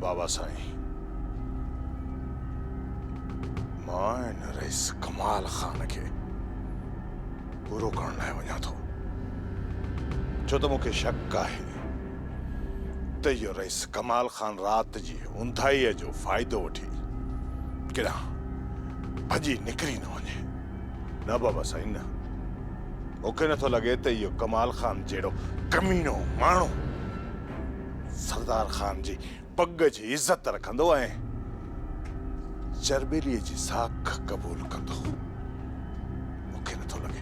بابا سائين مان هن رئيس ڪمال خان کي پورو ڪرڻ لاء وڃان ٿو ڇو ته مون کي شڪ آهي ته اهو رئيس ڪمال خان رات جي اونداهيء جو فائدو وٺي ڪيڏانهن ڀڄي نڪري نه وڃي نه بابا سائين نه مون کي نٿو لڳي ته اهو ڪمال خان جهڙو ڪمينو ماڻهو سردار خان جي پڳ جي عزت رکندو ۽ چرٻيليء جي ساک قبول ڪندو. مون کي نٿو لڳي.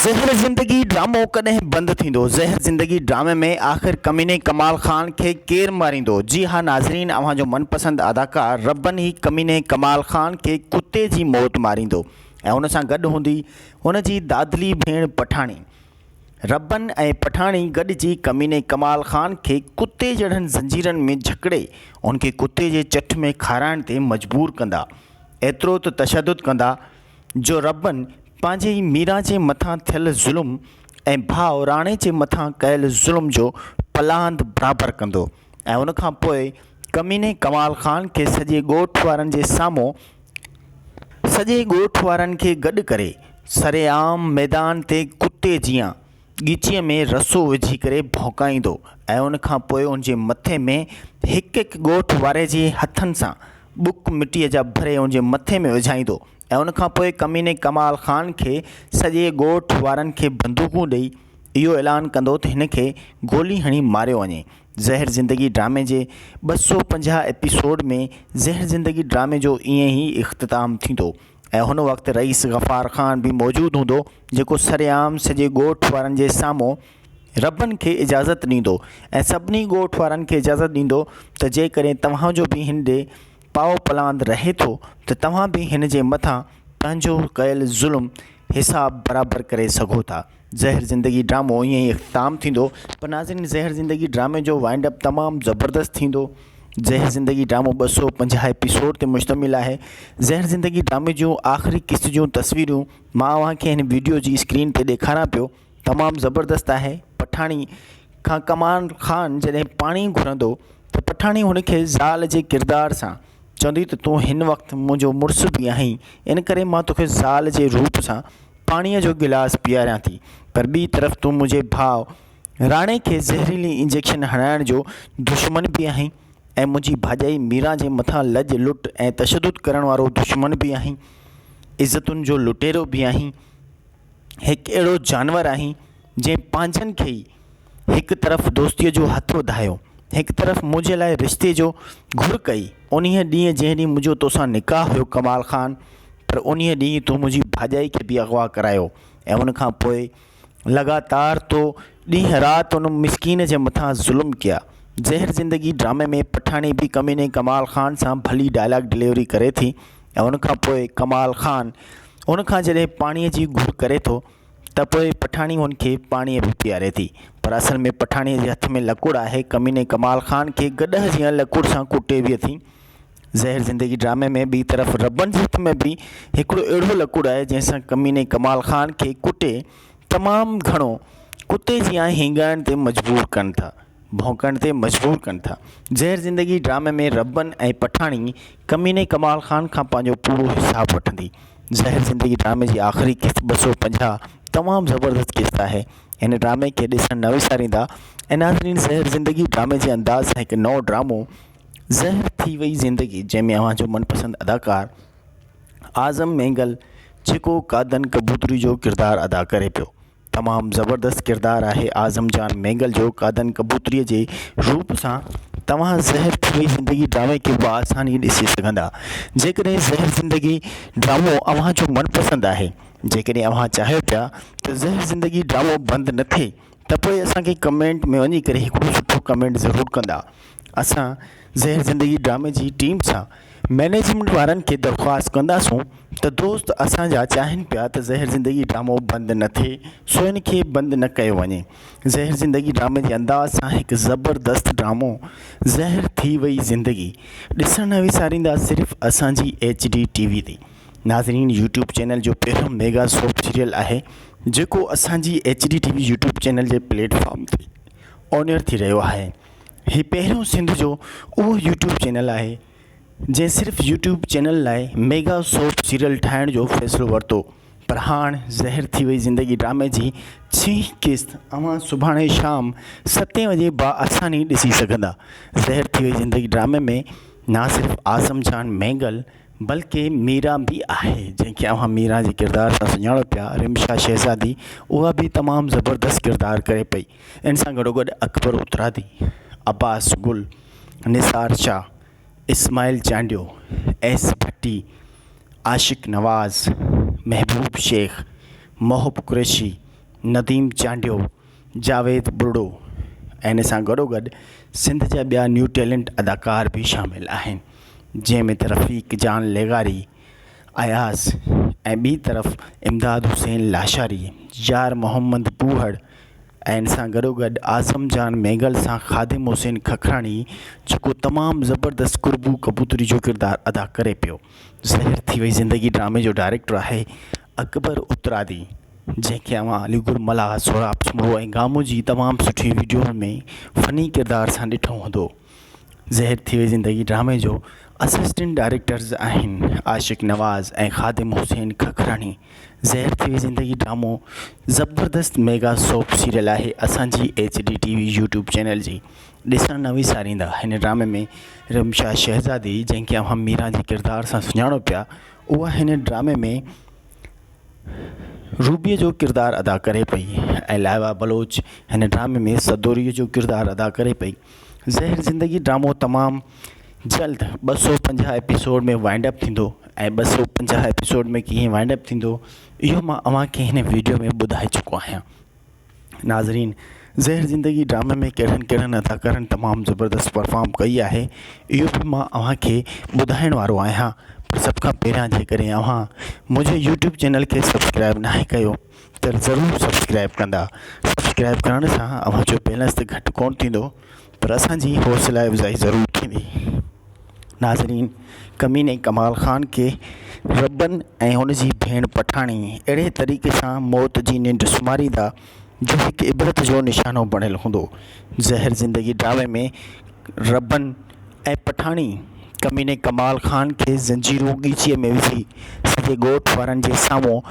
زهر زندگي ڊرامو ڪڏهن بند ٿيندو؟ زهر زندگي ڊرامي ۾ آخر ڪميني ڪمال خان کي ڪير ماريندو؟ جي ها ناظرين اوهان جو من پسند اداڪار ربن هي ڪميني ڪمال خان کي ڪتي جي موت ماريندو ۽ ان سان گڏ هوندي هن جي دادلي ڀيڻ پٺاڻي. ربن ۽ پٺاڻي گڏجي ڪميني ڪمال خان کي ڪتي جهڙن زنجيرن ۾ جهڪڙي ان کي ڪتي جي چٺ ۾ کارائڻ تي مجبور ڪندا. ايترو ته تشدد ڪندا جو ربن پنهنجي ئي ميران جي مٿان ٿيل ظلم ۽ ڀاء راڻي جي مٿان ڪيل ظلم جو پلاند برابر ڪندو ۽ ان کان پوء ڪميني ڪمال خان کي سڄي ڳوٺ وارن جي سامهون سڄي ڳوٺ وارن کي گڏ ڪري سرعام ميدان تي ڪتي جيان ڳچيء ۾ رسو وجهي ڪري ڀونڪائيندو ۽ ان کان پوء ان جي مٿي ۾ هڪ هڪ ڳوٺ واري جي هٿن سان ٻڪ مٽيء جا ڀري ان جي مٿي ۾ وجهائيندو ۽ ان کان پوء ڪميني ڪمال خان کي سڄي ڳوٺ وارن کي بندوقون ڏئي اهو اعلان ڪندو ته هن کي گولي هڻي ماريو وڃي زهر زندگي ڊرامي جي ٻه سؤ پنجاهه ايپيسوڊ ۾ زهر زندگي ڊرامي جو ائين ئي اختتام ٿيندو ۽ هن وقت رئيس غفار خان به موجود هوندو جيڪو سرعام سڄي ڳوٺ وارن جي سامهون ربن کي اجازت ڏيندو ۽ سڀني ڳوٺ وارن کي اجازت ڏيندو ته جيڪڏهن توهان جو به هن ڏي پاو پلاند رهي ٿو ته توهان به هن جي مٿان پنهنجو ڪيل ظلم حساب برابر ڪري سگهو ٿا زهر زندگي ڊرامو ائين ئي اختتام ٿيندو پر ناظرين زهر زندگي ڊرامي جو وائنڊ اپ تمام زبردست ٿيندو زهر زندگي ڊرامو ٻه سو پنجاهه ايپيسوڊ تي مشتمل آهي زهر زندگي ڊرامي جون آخري قسط جون تصويرون مان اوهان کي هن ويڊيو جي اسڪرين تي ڏيکاران پيو تمام زبردست آهي پٺاڻي کان ڪمال خان جڏهن پاڻي گهرندو ته پٺاڻي هن کي زال جي ڪردار سان چوندي ته تون هن وقت منهنجو مڙس به آهين ان ڪري مان توکي زال جي روپ سان پاڻيء جو گلاس پياريان ٿي، پر ٻي طرف تون منهنجي ڀاء راڻي کي زهريلي انجيڪشن هڻائڻ جو دشمن به آهين ۽ منهنجي ڀاڄائي ميران جي مٿان لڄ لٽ ۽ تشدد ڪرڻ وارو دشمن به آهين. عزتن جو لٽيرو به آهين. هڪ اهڙو جانور آهين، جنهن پنهنجن کي ئي هڪ طرف دوستيء جو هٿ وڌايو، هڪ طرف منهنجي لاء رشتي جو گهر ڪئي. انهيء ڏينهن جنهن ڏينهن منهنجو توسان نڪاح هيو ڪمال خان، پر انهيء ڏينهن تو منهنجي ڀاڄائي کي به اغوا ڪرايو ۽ ان کان پوء لڳاتار تو ڏينهن رات ان مسڪين جي مٿان ظلم ڪيا. زهر زندگي ڊرامي ۾ پٺاڻي به ڪميني ڪمال خان سان ڀلي ڊائلاگ ڊليوري ڪري ٿي ۽ ان کان پوء ڪمال خان ان کان جڏهن پاڻيء جي گهر ڪري ٿو، ته پوء پٺاڻي هن کي پاڻيء به پياري ٿي. پر اصل ۾ پٺاڻيء جي هٿ ۾ لڪوڙ آهي. ڪميني ڪمال خان کي گڏهه جيان لڪوڙ سان ڪوٽي ويهي ٿي. زهر زندگي ڊرامي ۾ ٻي طرف ربن جي هٿ ۾ به هڪڙو اهڙو لڪوڙ آهي، جنهن سان ڪميني ڪمال خان کي ڪوٽي تمام گهڻو ڪتي جيان هينگائڻ تي مجبور ڪن ٿا. ڀونڪڻ تي مجبور ڪن ٿا. زهر زندگي ڊرامي ۾ ربن ۽ پٺاڻي ڪميني ڪمال خان کان پنهنجو پورو حساب وٺندي. زهر زندگي ڊرامي جي آخري قسط ٻه سؤ پنجاهه تمام زبردست قسط آهي. هن ڊرامي کي ڏسڻ نه وساريندا ۽ ناظرين زهر زندگي ڊرامي جي انداز سان هڪ نئون ڊرامو زهر ٿي وئي زندگي جنهن ۾ اوهان جو من پسند اداڪار اعظم مينگل جيڪو قادن ڪبوتري جو ڪردار ادا ڪري پيو. تمام زبردست ڪردار آهي اعظم جان مينگل جو قادن ڪبوتري جي روپ سان توهان زهر ڀري زندگي ڊرامي کي بآساني ڏسي سگهندا جيڪڏهن زهر زندگي ڊرامو اوهان جو من پسند آهي جيڪڏهن اوهان چاهيو پيا ته زهر زندگي ڊرامو بند نه ٿئي ته پوء اسان کي ڪمينٽ ۾ وڃي ڪري هڪڙو سٺو ڪمينٽ ضرور ڪندا اسان زهر زندگي ڊرامي جي ٽيم سان مئنيجمينٽ وارن کي درخواست ڪنداسون ته دوست اسانجا چاهن پيا ته زهر زندگي ڊرامو بند نه ٿئي سو ان کي بند نه ڪيو وڃي زهر زندگي ڊرامي جي انداز سان هڪ زبردست ڊرامو زهر ٿي وئي زندگي ڏسڻ نه وساريندا صرف اسانجي ايچ ڊي ٽي وي تي ناظرين يوٽيوب چينل جو پهريون ميگا سوپ سيريل آهي جيڪو اسانجي H D TV YouTube channel جي پليٽ فارم تي اونيئر ٿي رهيو آهي هي پهريون سنڌ جو اهو يوٽيوب چينل آهي جنهن صرف يوٽيوب چينل لاء ميگا سوپ سيريل ٺاهڻ جو فيصلو ورتو پر هاڻ زهر ٿي وئي زندگي ڊرامي جي ڇهين قسط اوهان سڀاڻي شام ستين وڄي بآساني ڏسي سگهندا زهر ٿي وئي زندگي ڊرامي ۾ نه صرف اعظم جان مينگل بلڪه ميرا به آهي جنهن کي اوهان ميرا جي ڪردار سان سڃاڻو پيا رمشا شهزادي اها به تمام زبردست ڪردار ڪري پئي ان سان گڏوگڏ اڪبر اترادي، عباس گل، نثار شاهه، اسماعيل چانڊيو، ايس ڀٽي، عاشق نواز، محبوب شيخ، محب قريشي، نديم چانڊيو، جاويد ٻرڙو ۽ ان سان گڏوگڏ سنڌ جا ٻيا نيو ٽيلنٽ اداڪار به شامل آهن جنهن ۾ ته رفيق جان لغاري، اياز ۽ ٻي طرف امداد حسين لاشاري، يار محمد ٻوهڙ، ۽ ان سان گڏوگڏ اعظم جان مينگل سان خادم حسين ککراڻي جيڪو تمام زبردست قربو ڪبوتري جو ڪردار ادا ڪري پيو زهر ٿي وئي زندگي ڊرامي جو ڊائريڪٽر آهي اڪبر اترادي جنهن کي اوهان علي گل ملاح سهراب سومرو ۽ گامو جي تمام سٺي وڊيو ۾ فني ڪردار سان ڏٺو هوندو زهر ٿي وئي زندگي ڊرامي جو اسسٽنٽ ڊائريڪٽرز آهن عاشق نواز ۽ خادم حسين ککراڻي زهر ٿي وئي زندگي ڊرامو زبردست ميگا سوپ سيريل آهي اسانجي H D TV YouTube channel جي ڏسڻ نه وساريندا هن ڊرامي ۾ رمشا شهزادي جنهن کي اوهان ميرا جي ڪردار سان سڃاڻو پيا اها هن ڊرامي ۾ روبيء جو ڪردار ادا ڪري پئي ۽ لائبا بلوچ هن ڊرامي ۾ سدوريء جو ڪردار ادا ڪري پئي زهر زندگي ڊرامو تمام جلد ٻه سؤ پنجاهه ايپيسوڊ ۾ وائنڊ اپ ٿيندو ۽ ٻه سؤ پنجاهه ايپيسوڊ ۾ ڪيئن وائنڊ اپ ٿيندو اهو مان اوهان کي هن ويڊيو ۾ ٻڌائي چڪو آهيان ناظرين زهر زندگي ڊرامي ۾ ڪهڙن ڪهڙن اداڪارن تمام زبردست پرفارم ڪئي آهي اهو به مان اوهان کي ٻڌائڻ وارو آهيان پر سڀ کان پهريان جيڪڏهن اوهان منهنجي يوٽيوب چينل کي سبسڪرائب ناهي ڪيو ته ضرور سبسڪرائب ڪندا سبسڪرائب ڪرڻ سان اوهان جو بيلنس ته گهٽ ڪونه ٿيندو پر اسان جي حوصلا افزائي ضرور ٿيندي ناظرين ڪميني ڪمال خان کي ربن ۽ ان جي ڀيڻ پٺاڻي اهڙي طريقي سان موت جي ننڊ سمهاريندا جو هڪ عبرت جو نشانو بڻيل هوندو زهر زندگي ڊرامي ۾ ربن ۽ پٺاڻي ڪميني ڪمال خان کي زنجيرون ڳچيء ۾ وجهي سڄي ڳوٺ وارن جي سامهون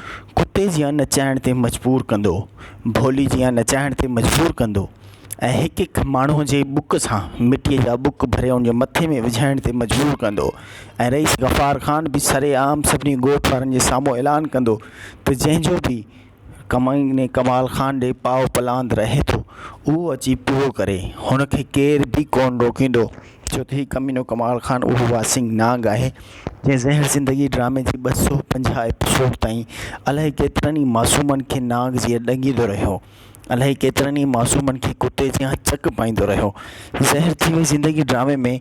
ڪتي جيان نچائڻ تي مجبور ڪندو، ڀولي جيان نچائڻ تي مجبور ڪندو ۽ هڪ هڪ ماڻهوء جي بک سان مٽيء جا بک ڀري ان جي مٿي ۾ وجهائڻ تي مجبور ڪندو ۽ رئيس غفار خان به سرعام سڀني ڳوٺ وارن جي سامهون اعلان ڪندو ته جنهن جو به ڪمائني ڪمال خان ڏي پاء پلاند رهي ٿو اهو اچي پورو ڪري هن کي ڪير به ڪون روڪيندو ڇو ته هي ڪمينو ڪمال خان اهو واسينگ نانگ آهي جنهن زهر زندگي ڊرامي جي ٻه سو پنجاهه ايپيسوڊ تائين الاهي ڪيترن ئي معصومن کي نانگ جيئن ڏنگيندو رهيو الاهي ڪيترن ئي معصومن کي ڪتي جيان چڪ پائيندو رهيو زهر ٿي وئي زندگي ڊرامي ۾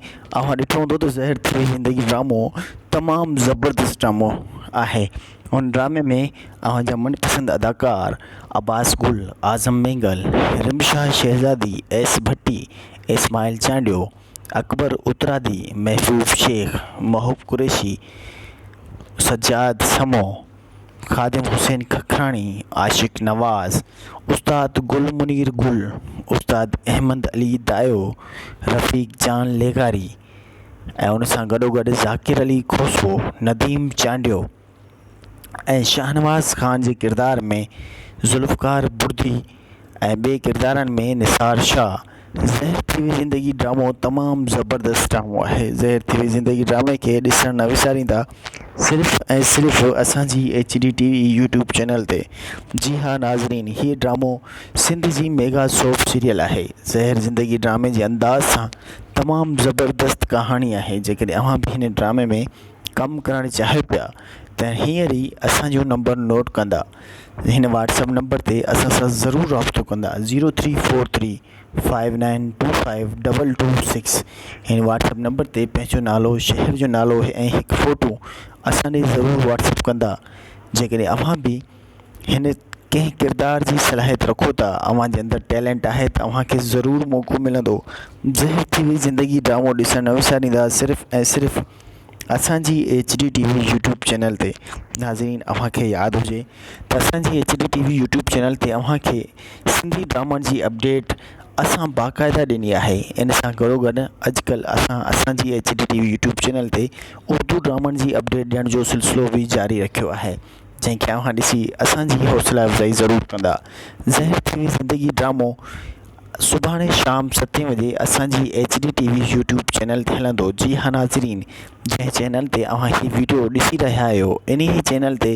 اوهان ڏٺو هوندو ته زهر ٿي وئي زندگي ڊرامو تمام زبردست ڊرامو آهي هن ڊرامي ۾ اوهان جا من پسند اداڪار عباس گل، اعظم مينگل، رمشا شهزادي، ايس ڀٽي، اسماعيل چانڊيو، اڪبر اترادي، محبوب شيخ، محب قريشي، سجاد سمون، خادم حسين ککراڻي، عاشق نواز، استاد گل منير گل، استاد احمد علي دايو، رفيق جان لغاري، ۽ ان سان گڏو گڏ ذاڪر علي کوسو نديم چانڊيو ۽ شاهنواز خان جي ڪردار ۾ ذوالفقار بڙدي ۽ ٻي ڪردارن ۾ نثار شاهه زهر ٿي وئي زندگي ڊرامو تمام زبردست ڊرامو آهي زهر ٿي وئي زندگي ڊرامي کي ڏسڻ نه وساريندا صرف ۽ صرف اسانجي H D TV YouTube channel تي جي ها ناظرين هي ڊرامو سنڌ جي ميگا سوپ سيريل آهي زهر زندگي ڊرامي جي انداز سان تمام زبردست ڪهاڻي آهي جيڪڏهن اوهان به هن ڊرامي ۾ ڪم ڪرڻ چاهيو پيا ته هينئر ئي اسانجو نمبر نوٽ ڪندا هن واٽسپ نمبر تي اسان سان ضرور رابطو ڪندا zero three four three five nine two five double two six هن واٽسپ نمبر تي پنهنجو نالو شهر جو نالو ۽ هڪ فوٽو اسان ڏي ضرور واٽسپ ڪندا جيڪڏهن اوهان به هن ڪنهن ڪردار جي صلاحيت رکو ٿا اوهان جي اندر ٽيلنٽ آهي ته اوهان کي ضرور موقعو ملندو جنهن ٿي وئي زندگي ڊرامو ڏسڻ نه وساريندا صرف ۽ صرف اسان جي H D TV YouTube channel تي ناظرين اوهان کي ياد هجي ته اسان جي H D TV YouTube channel تي اوهان کي سنڌي ڊرامن جي اپڊيٽ اسان باقاعده ڏني آهي ان سان گڏو گڏ اڄڪلهه اسان اسان جي H D TV YouTube channel تي اردو ڊرامن جي اپڊيٽ ڏيڻ جو سلسلو بي جاري رکيو آهي جنهن کي اوهان ڏسي اسان جي حوصلا افزائي ضرور ڪندا زهر ٿي وئي زندگي ڊرامو سڀاڻي شام ستي وڄي اسان جي H D TV YouTube channel تي هلندو جي ها ناظرين جنهن چينل تي اوهان هي ويڊيو ڏسي رهيا آهيو انهي چينل تي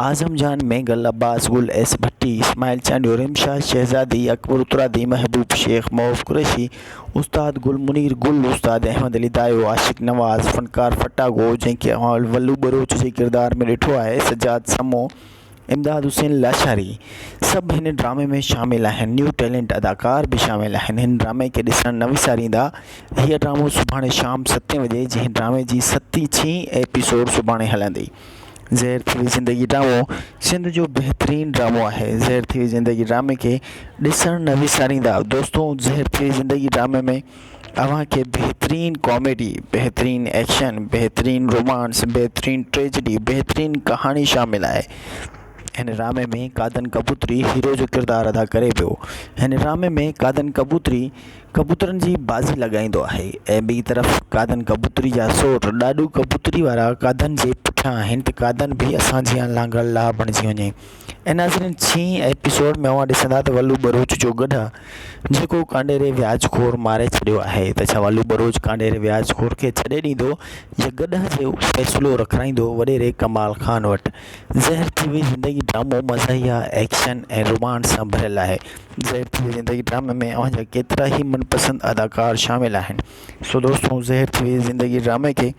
اعظم جان مينگل عباس گل ايس ڀٽي اسماعيل چانڊيو رمشا شهزادي اڪبر اترادي محبوب شيخ معوف قريشي استاد گل منير گل، استاد احمد علي دايو، عاشق نواز، فنڪار ڦٽاگو جنهن کي اوهان ولو ٻروچ جي ڪردار ۾ ڏٺو آهي، سجاد سمون، امداد حسين لاشاري سڀ هن ڊرامي ۾ شامل آهن. نيو ٽيلنٽ اداڪار به شامل آهن. هن ڊرامي کي ڏسڻ نه وساريندا. هيء ڊرامو سڀاڻي شام ستين وڄي جنهن ڊرامي جي ستين ڇهين ايپيسوڊ سڀاڻي هلندي. زهر ٿي وئي زندگي ڊرامو سنڌ جو بهترين ڊرامو آهي زهر ٿي وئي زندگي ڊرامي کي ڏسڻ نه وساريندا دوستو زهر ٿي وئي زندگي ڊرامي ۾ اوهان کي بهترين ڪاميڊي بهترين ايڪشن بهترين رومانس بهترين ٽريجڊي بهترين ڪهاڻي شامل آهي هن ڊرامي ۾ ڪادن ڪبوتري هيرو جو ڪردار ادا ڪري پيو هن ڊرامي ۾ ڪادن ڪبوتري ڪبوترن جي بازي لڳائيندو آهي ۽ ٻي طرف گادن ڪبوتري جا سور ڏاڏو ڪبوتري وارا گادن جي پٺيان آهن ته گادن به اسان جيان لانگڙ لاء بڻجي وڃي ۽ ناظرين ڇهين ايپيسوڊ ۾ اوهان ڏسندا ته ولو ٻروچ جو گڏهه جيڪو ڪانڊيري وياج خور ماري ڇڏيو آهي ته ڇا ولو ٻروچ ڪانڊيري وياج خور کي ڇڏي ڏيندو يا گڏهه جو فيصلو رکرائيندو وڏيري ڪمال خان وٽ زهر ٿي وئي زندگي ڊرامو مزاحيه ايڪشن ۽ رومانس سان ڀريل آهي زهر ٿي ويئي زندگي ڊرامي ۾ اوهان جا ڪيترا ئي من پسند اداڪار شامل آهن سو دوستو زهر ٿي ويئي زندگي ڊرامي کي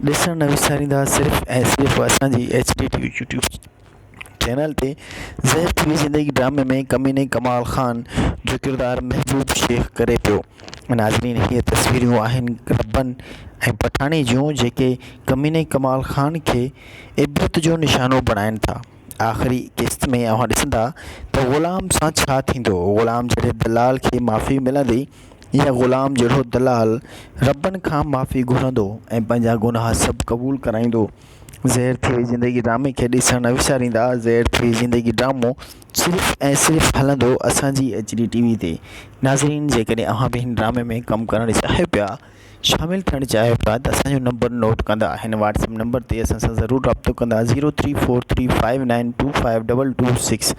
ڏسڻ نه وساريندا صرف ۽ صرف اسان جي H D TV YouTube channel تي زهر ٿي ويئي زندگي ڊرامي ۾ ڪميني ڪمال خان جو ڪردار محبوب شيخ ڪري پيو ناظرين هي تصويرون آهن ربن ۽ پٺاڻي جون جيڪي ڪميني ڪمال خان کي عبرت جو نشانو بڻائن ٿا آخري قسط ۾ اوهان ڏسندا ته غلام سان ڇا ٿيندو. غلام جهڙي دلال کي معافي ملندي يا غلام جهڙو دلال ربن کان معافي گهرندو ۽ پنهنجا گناهه سڀ قبول ڪرائيندو. زهر ٿئي زندگي ڊرامي کي ڏسڻ نه وساريندا زهر ٿئي زندگي ڊرامو صرف ۽ صرف هلندو اسان جي ايچ ڊي ٽي وي تي ناظرين جيڪڏهن اوهان به هن ڊرامي ۾ ڪم ڪرڻ چاهيو پيا شامل ٿيڻ جي افراد اسان جو نمبر نوٽ ڪندا هن واٽس اپ نمبر تي اسان سان ضرور رابطو ڪندا zero three four three five nine two five double two six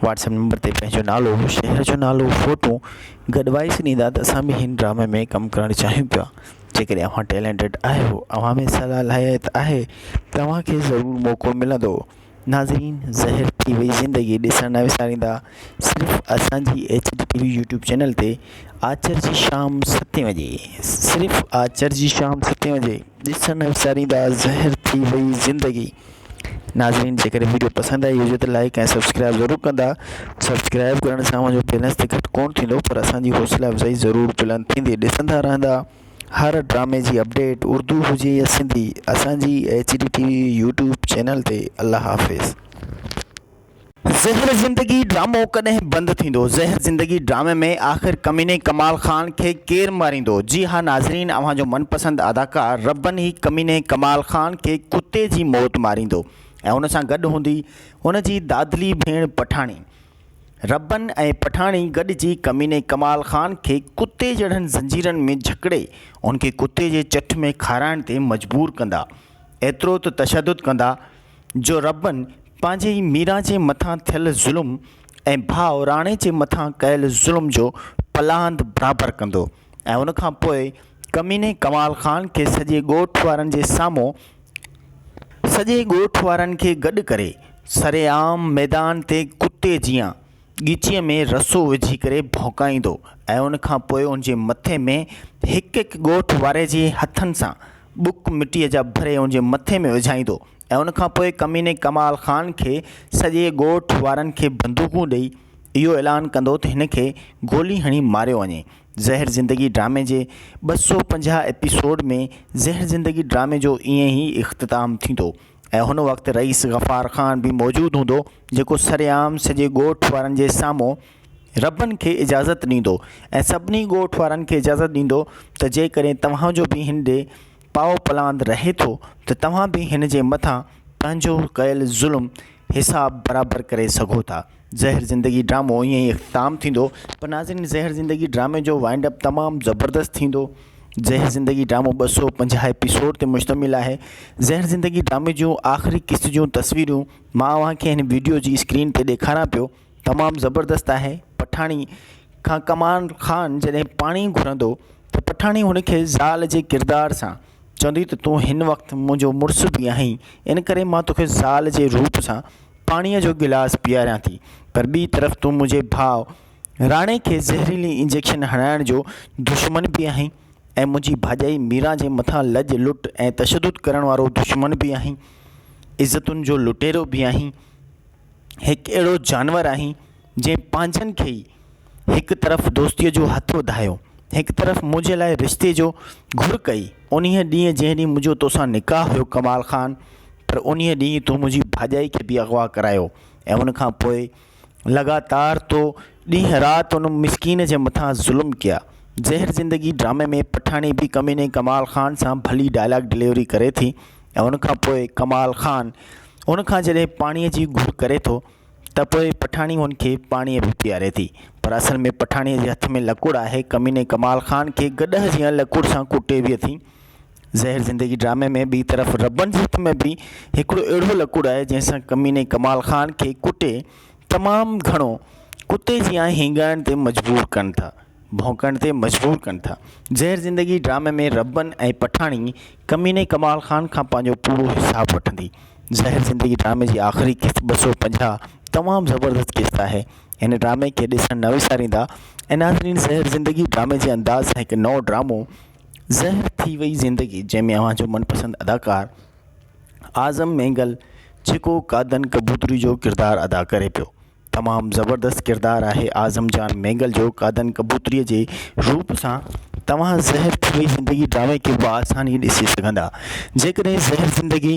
WhatsApp number تي پنهنجو نالو شهر جو نالو فوٽو گڏ وائس ڏيندا ته اسان به هن ڊرامي ۾ ڪم ڪرڻ چاهيون پيا جيڪڏهن اوهان ٽيلنٽڊ آهيو اوهان ۾ صلاحيت آهي ته اوهان کي ضرور موقعو ملندو ناظرين زهر ٿي وئي زندگي ڏسڻ نه وساريندا صرف اسان جي H D TV YouTube channel تي آچر جي شام ستين وڄي صرف آچر جي شام ستين وڄي ڏسڻ نه وساريندا زهر ٿي وئي زندگي ناظرين جيڪڏهن ويڊيو پسند آئي هجي ته لائڪ ۽ سبسڪرائب ضرور ڪندا سبسڪرائب ڪرڻ سان منهنجو بيلنس ته گهٽ ڪونه ٿيندو پر اسان جي حوصلا افزائي ضرور بلند ٿيندي ڏسندا رهندا هر ڊرامي جي اپڊيٽ اردو هجي يا سنڌي اسان جي H D TV YouTube channel تي الله حافظ. زهر زندگي ڊرامو ڪڏهن بند ٿيندو زهر زندگي ڊرامي ۾ آخر ڪميني ڪمال خان کي ڪير ماريندو جي ها ناظرين اوهان جو من پسند اداڪار ربن هي ڪميني ڪمال خان کي ڪتي جي موت ماريندو ۽ ان سان گڏ هوندي ان جي دادلي ڀيڻ پٺاڻي ربن ۽ پٺاڻي گڏجي ڪميني ڪمال خان کي ڪتي جهڙن زنجيرن ۾ جڪڙي ان کي ڪتي جي چٺ ۾ کارائڻ تي مجبور ڪندا. ايترو ته تشدد ڪندا جو ربن پنهنجي ئي ميران جي مٿان ٿيل ظلم ۽ ڀاء راڻي جي مٿان ڪيل ظلم جو پلاند برابر ڪندو. ۽ ان کان پوء ڪميني ڪمال خان کي سڄي ڳوٺ وارن جي سامهون سڄي ڳوٺ وارن کي گڏ ڪري سرعام ميدان تي ڪتي جيان ڳچيء ۾ رسو وجهي ڪري ڀونڪائيندو ۽ ان کان پوء ان جي مٿي ۾ هڪ هڪ ڳوٺ واري جي هٿن سان ٻڪ مٽيء جا ڀري ان جي مٿي ۾ وجهائيندو ۽ ان کان پوء ڪميني ڪمال خان کي سڄي ڳوٺ وارن کي بندوقون ڏئي اهو اعلان ڪندو ته هن کي گولي هڻي ماريو وڃي. زهر زندگي ڊرامي جي ٻه سؤ پنجاهه ايپيسوڊ ۾ زهر زندگي ڊرامي جو ائين ئي اختتام ٿيندو ۽ هن وقت رئيس غفار خان به موجود هوندو جيڪو سرعام سڄي ڳوٺ وارن جي سامهون ربن کي اجازت ڏيندو ۽ سڀني ڳوٺ وارن کي اجازت ڏيندو ته جيڪڏهن توهان جو به هن ڏي پائو پلاند رهي ٿو ته توهان به هن جي مٿان پنهنجو ڪيل ظلم حساب برابر ڪري سگهو ٿا زهر زندگي ڊرامو ائين ئي اختتام ٿيندو پر ناظرين زهر زندگي ڊرامي جو وائنڊ اپ تمام زبردست ٿيندو زهر زندگي ڊرامو ٻه سؤ پنجاهه ايپيسوڊ تي مشتمل آهي زهر زندگي ڊرامي جون آخري قسط جون تصويرون مان اوهان کي هن ويڊيو جي اسڪرين تي ڏيکاران پيو تمام زبردست آهي پٺاڻي کان ڪمال خان جڏهن پاڻي گهرندو ته پٺاڻي هن کي زال جي ڪردار سان چوندي ته تون هن وقت منهنجو مڙس به آهين ان ڪري مان توکي زال جي روپ سان پاڻيء جو گلاس پياريان ٿي پر ٻي طرف تون منهنجي ڀاء راڻي کي زهريلي انجيڪشن هڻائڻ جو دشمن به آهين ۽ منهنجي ڀاڄائي ميران جي مٿان لڄ لٽ ۽ تشدد ڪرڻ وارو دشمن به آهين عزتن جو لٽيرو به آهين هڪ اهڙو جانور آهين جنهن پنهنجن کي ئي هڪ طرف دوستيء جو هٿ وڌايو هڪ طرف منهنجي لاء رشتي جو گهر ڪئي انهيء ڏينهن جنهن ڏينهن منهنجو توسان نڪاح هيو ڪمال خان پر انهيء ڏينهن تون منهنجي ڀاڄائي کي به اغوا ڪرايو ۽ ان کان پوء لڳاتار تو ڏينهن رات ان مسڪين جي مٿان ظلم ڪيا زهر زندگي ڊرامي ۾ پٺاڻي به ڪميني ڪمال خان سان ڀلي ڊائلاگ ڊليوري ڪري ٿي ۽ ان کان پوء ڪمال خان ان کان جڏهن پاڻيء جي گهر ڪري ٿو ته پوء پٺاڻي هن کي پاڻيء به پياري ٿي پر اصل ۾ پٺاڻيء جي هٿ ۾ لڪڙ آهي ڪميني ڪمال خان کي گڏهه جيان لڪڙ سان ڪٽي به اٿي زهر زندگي ڊرامي ۾ ٻي طرف ربن جي هٿ ۾ به هڪڙو اهڙو لڪڙ آهي جنهن سان ڪميني ڪمال خان کي ڪٽي تمام گهڻو ڪتي جيان هينگائڻ تي مجبور ڪن ٿا ڀونڪڻ تي مجبور ڪن ٿا زهر زندگي ڊرامي ۾ ربن ۽ پٺاڻي ڪميني ڪمال خان کان پنهنجو پورو حساب وٺندي. زهر زندگي ڊرامي جي آخري قسط ٻه سؤ پنجاهه تمام زبردست قسط آهي. هن ڊرامي کي ڏسڻ نه وساريندا ۽ ناظرين زهر زندگي ڊرامي جي انداز سان هڪ نئون ڊرامو زهر ٿي وئي زندگي جنهن ۾ اوهان جو من پسند اداڪار اعظم مينگل ڇڪو قادن ڪبوتري جو ڪردار ادا ڪري پيو. تمام زبردست ڪردار آهي اعظم جان مينگل جو قادن ڪبوتري جي روپ سان توهان زهر ڀري زندگي ڊرامي کي بآساني ڏسي سگهندا جيڪڏهن زهر زندگي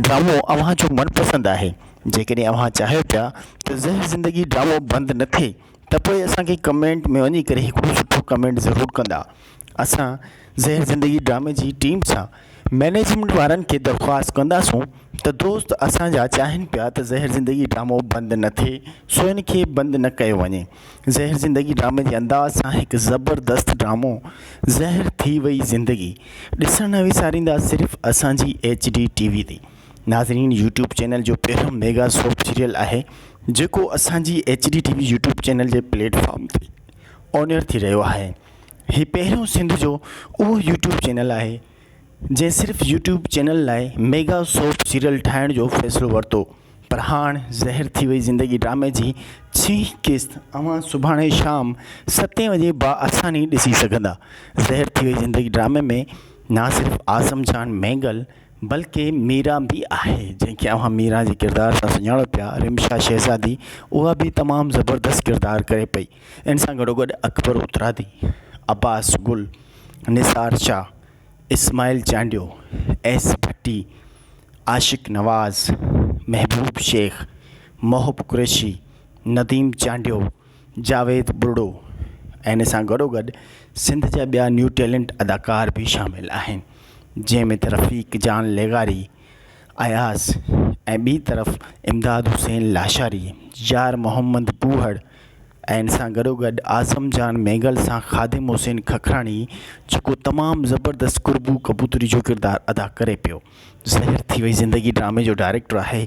ڊرامو اوهان جو من پسند آهي جيڪڏهن اوهان چاهيو پيا ته زهر زندگي ڊرامو بند نه ٿئي ته پوء اسان کي ڪمينٽ ۾ وڃي ڪري هڪڙو سٺو ڪمينٽ ضرور ڪندا اسان زهر زندگي ڊرامي جي ٽيم سان مئنيجمينٽ وارن کي درخواست ڪنداسون ته دوست اسانجا چاهن پيا ته زهر زندگي ڊرامو بند نه ٿئي سو ان کي بند نه ڪيو وڃي زهر زندگي ڊرامي جي انداز سان هڪ زبردست ڊرامو زهر ٿي وئي زندگي ڏسڻ نه وساريندا صرف اسانجي ايچ ڊي ٽي وي تي ناظرين يوٽيوب چينل جو پهريون ميگا سوپ سيريل آهي جيڪو اسانجي H D TV YouTube channel جي پليٽ فارم تي اونيئر ٿي رهيو آهي هي پهريون سنڌ جو اهو يوٽيوب چينل آهي جنهن صرف يوٽيوب چينل لاء ميگا سوپ سيريل ٺاهڻ جو فيصلو ورتو پر هاڻ زهر ٿي وئي زندگي ڊرامي جي ڇهين قسط اوهان سڀاڻي شام ستين وڄي با آساني ڏسي سگهندا زهر ٿي وئي زندگي ڊرامي ۾ نه صرف اعظم جان مينگل بلڪه ميرا به آهي جنهن کي اوهان ميرا جي ڪردار سان سڃاڻو پيا رمشا شهزادي اها به تمام زبردست ڪردار ڪري پئي ان سان گڏوگڏ اڪبر اترادي، عباس گل، نثار شاهه، اسماعيل چانڊيو، ايس ڀٽي، عاشق نواز، محبوب شيخ، محب قريشي، نديم چانڊيو، جاويد ٻرڙو ۽ ان سان گڏوگڏ سنڌ جا ٻيا نيو ٽيلنٽ اداڪار به شامل آهن جنهن ۾ ته رفيق جان لغاري، اياز ۽ ٻي طرف امداد حسين لاشاري، يار محمد ڪوهڙ، ۽ ان سان گڏوگڏ اعظم جان مينگل سان خادم حسين ککراڻي جيڪو تمام زبردست قربو ڪبوتري جو ڪردار ادا ڪري پيو زهر ٿي وئي زندگي ڊرامي جو ڊائريڪٽر آهي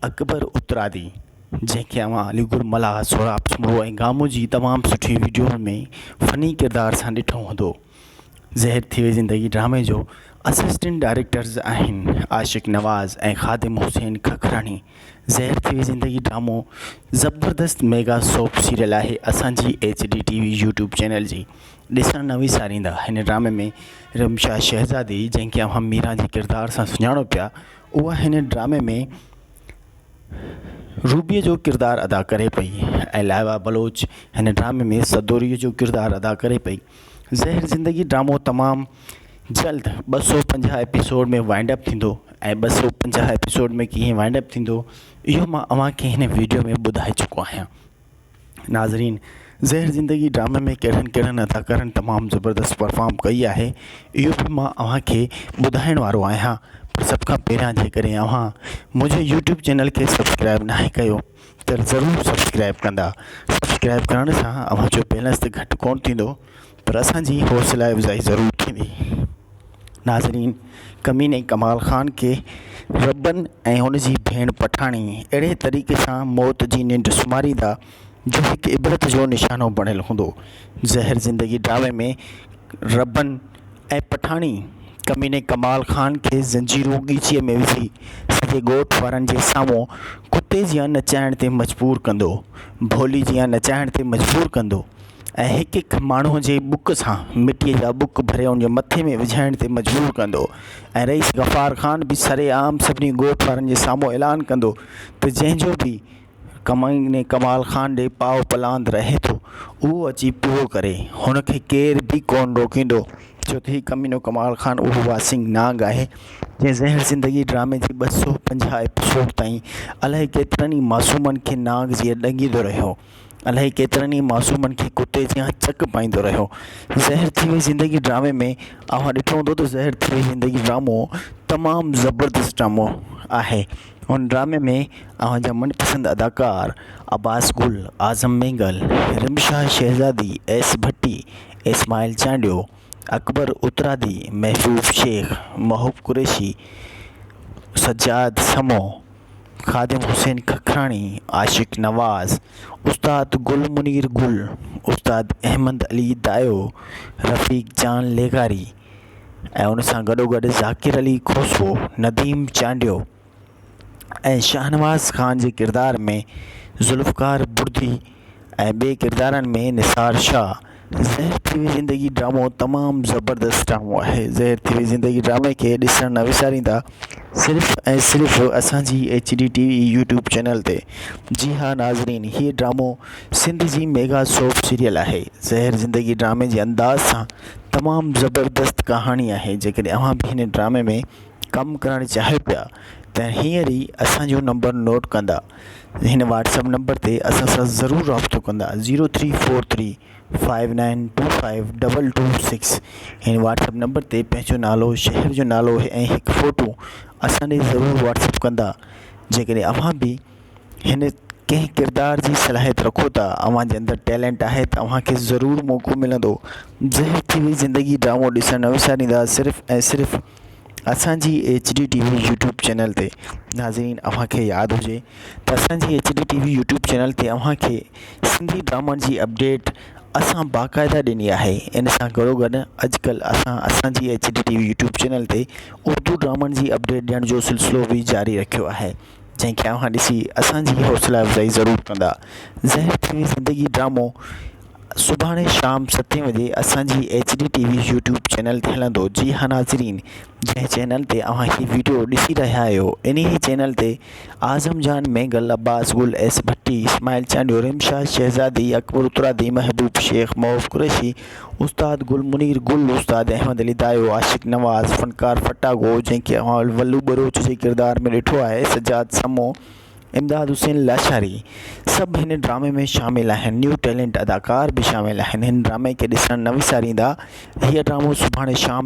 اڪبر اترادي جنهن کي اوهان علي گل ملاح سهراب سومرو ۽ گامو جي تمام سٺي وڊيو ۾ فني ڪردار سان ڏٺو هوندو زهر ٿي وئي زندگي ڊرامي جو اسسٽنٽ ڊائريڪٽرز آهن عاشق نواز ۽ خادم حسين ککراڻي زهر ٿي وئي زندگي ڊرامو زبردست ميگا سوپ سيريل آهي اسانجي H D TV YouTube channel جي ڏسڻ نه وساريندا هن ڊرامي ۾ رمشا شهزادي جنهن کي اوهان ميران جي ڪردار سان سڃاڻو پيا اها هن ڊرامي ۾ روبيء جو ڪردار ادا ڪري پئي ۽ لائبا بلوچ هن ڊرامي ۾ سدوريء جو ڪردار ادا ڪري پئي زهر زندگي ڊرامو تمام جلد ٻه سؤ پنجاهه ايپيسوڊ ۾ وائنڊ اپ ٿيندو ۽ ٻه سؤ پنجاهه ايپيسوڊ ۾ ڪيئن وائنڊ اپ ٿيندو اهو مان اوهان کي هن ويڊيو ۾ ٻڌائي چڪو آهيان ناظرين زهر زندگي ڊرامي ۾ ڪهڙن ڪهڙن اداڪارن تمام زبردست پرفارم ڪئي آهي اهو به مان اوهان کي ٻڌائڻ وارو آهيان پر سڀ کان پهريان جيڪڏهن اوهان منهنجي يوٽيوب چينل کي سبسڪرائب ناهي ڪيو ته ضرور سبسڪرائب ڪندا سبسڪرائب ڪرڻ سان اوهان جو بيلنس ته گهٽ ڪونه ٿيندو پر اسان جي حوصلا افزائي ضرور ٿيندي ناظرين ڪميني ڪمال خان کي ربن ۽ هن جي ڀيڻ پٺاڻي اهڙي طريقي سان موت جي ننڊ سمهاريندا جو هڪ عبرت جو نشانو بڻيل هوندو زهر زندگي ڊرامي ۾ ربن ۽ پٺاڻي ڪميني ڪمال خان کي زنجيرون ڳچيء ۾ وجهي سڄي ڳوٺ وارن جي سامهون ڪتي جيان نچائڻ تي مجبور ڪندو، ڀولي جيان نچائڻ تي مجبور ڪندو ۽ هڪ هڪ ماڻهوء جي بک سان مٽيء جا بک ڀري ان جي مٿي ۾ وجهائڻ تي مجبور ڪندو ۽ رئيس غفار خان به سرعام سڀني ڳوٺ وارن جي سامهون اعلان ڪندو ته جنهن جو به ڪمائني ڪمال خان ڏي پاء پلاند رهي ٿو اهو اچي پورو ڪري هن کي ڪير به ڪون روڪيندو ڇو ته هي ڪمينو ڪمال خان اهو واسينگ نانگ آهي جنهن زهر زندگي ڊرامي جي ٻه سو پنجاهه ايپيسوڊ تائين الاهي ڪيترن ئي معصومن کي نانگ جيئن ڏنگيندو رهيو الاهي ڪيترن ئي معصومن کي ڪتي جيان چڪ پائيندو رهيو زهر ٿي وئي زندگي ڊرامي ۾ اوهان ڏٺو هوندو ته زهر ٿي وئي زندگي ڊرامو تمام زبردست ڊرامو آهي هن ڊرامي ۾ اوهان جا من پسند اداڪار عباس گل، اعظم مينگل، رمشا شهزادي، ايس ڀٽي، اسماعيل چانڊيو، اڪبر اترادي، محفوظ شيخ، محب قريشي، سجاد سمون، خادم حسين ککراڻي، عاشق نواز، استاد گل منير گل، استاد احمد علي دايو، رفيق جان لغاري، ۽ ان سان گڏو گڏ ذاڪر علي کوسو نديم چانڊيو ۽ شاهنواز خان جي ڪردار ۾ ذوالفقار بڙدي ۽ ٻي ڪردارن ۾ نثار شاهه زهر ٿي وئي زندگي ڊرامو تمام زبردست ڊرامو آهي زهر ٿي وئي زندگي ڊرامي کي ڏسڻ نه وساريندا صرف ۽ صرف اسانجي H D TV YouTube channel تي جي ها ناظرين هي ڊرامو سنڌ جي ميگا سوپ سيريل آهي زهر زندگي ڊرامي جي انداز سان تمام زبردست ڪهاڻي آهي جيڪڏهن اوهان به هن ڊرامي ۾ ڪم ڪرڻ چاهيو پيا ته هينئر ئي اسان جو نمبر نوٽ ڪندا هن واٽسپ نمبر تي اسان سان ضرور رابطو ڪندا zero three four three five nine two five double two six هن واٽسپ نمبر تي پنهنجو نالو شهر جو نالو ۽ هڪ فوٽو اسان ڏي ضرور واٽسپ ڪندا جيڪڏهن اوهان به هن ڪنهن ڪردار جي صلاحيت رکو ٿا اوهان جي اندر ٽيلنٽ آهي ته اوهان کي ضرور موقعو ملندو زهر ٽي وي زندگي ڊرامو ڏسڻ نه وساريندا صرف ۽ صرف اسان جي H D TV YouTube channel تي ناظرين اوهان کي ياد هجي ته اسان جي H D TV YouTube channel تي اوهان کي سنڌي ڊرامن جي اپڊيٽ اسان باقاعده ڏني آهي ان سان گڏو گڏ اڄڪلهه اسان اسان جي H D TV YouTube channel تي اردو ڊرامن جي اپڊيٽ ڏيڻ جو سلسلو بي جاري رکيو آهي جنهن کي اوهان ڏسي اسان جي حوصلا افزائي ضرور ڪندا زهر ٿيون زندگي ڊرامو سڀاڻي شام ستين وڄي اسان جي H D TV YouTube channel تي هلندو جي ها ناظرين جنهن چينل تي اوهان هي ويڊيو ڏسي رهيا آهيو انهي چينل تي اعظم جان مينگل عباس گل ايس ڀٽي اسماعيل چانڊيو رمشا شهزادي اڪبر اترادي محبوب شيخ معوف قريشي استاد گل منير گل، استاد احمد علي دايو، عاشق نواز، فنڪار ڦٽاگو جنهن کي اوهان ولو ٻروچ جي ڪردار ۾ ڏٺو آهي، سجاد سمون، امداد حسين لاشاري سڀ هن ڊرامي ۾ شامل آهن. نيو ٽيلنٽ اداڪار به شامل آهن. هن ڊرامي کي ڏسڻ نه وساريندا. هيء ڊرامو سڀاڻي شام